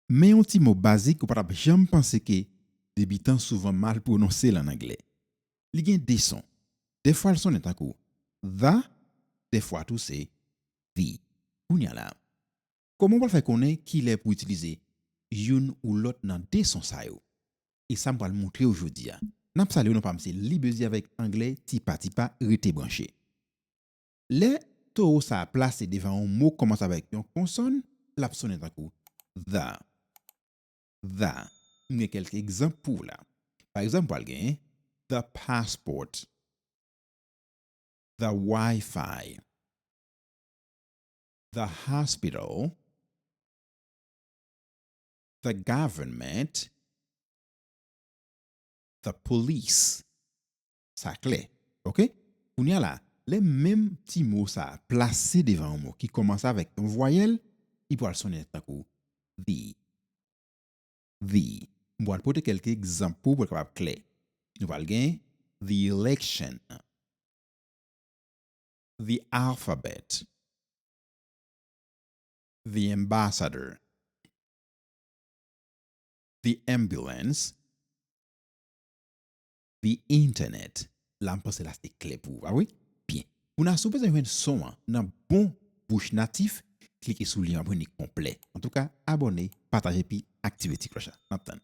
Men yon ti mo bazik ou pa t ap janm panse ke debitan souvan mal pwononse l an angle. Li gen de son. Dèfwa l sonnen tankou the, dèfwa tou se the. Kounye a la, kòman ou pral fè konnen kilè pou w itilize youn ou lòt nan de son sa yo? E sa m pral montre w jodi a. N ap sale w nan pa m se Libezi avèk angle Tipa Tipa, rete branche. Lè towo sa a plase devan yon mo k kòmanse avèk yon konsòn, l ap sonnen tankou the, tha. M gen kèlke egzanp pou w la. Pa egzanp, m pral gen, the passport, the Wi-Fi, the hospital, the government, the police. Sa klè. Ok. Kounye a la, lè menm ti mo sa a plase devan yon mo ki kòmanse avèk yon vwayèl, li pral sonnen tankou the. The. M pral pote kèlke egzanp pou ou pou l kapab klè. Nou pral gen the election, the alphabet, the ambassador, the ambulance, the internet la m panse la se klè pou ou pa vre? Byen. Pou na si w bezwen jwenn son an nan bon bouch natif klike sou lyen an pou jwenn li konplè. Antouka abòne, pataje epi aktive ti klòch la. Nap tann.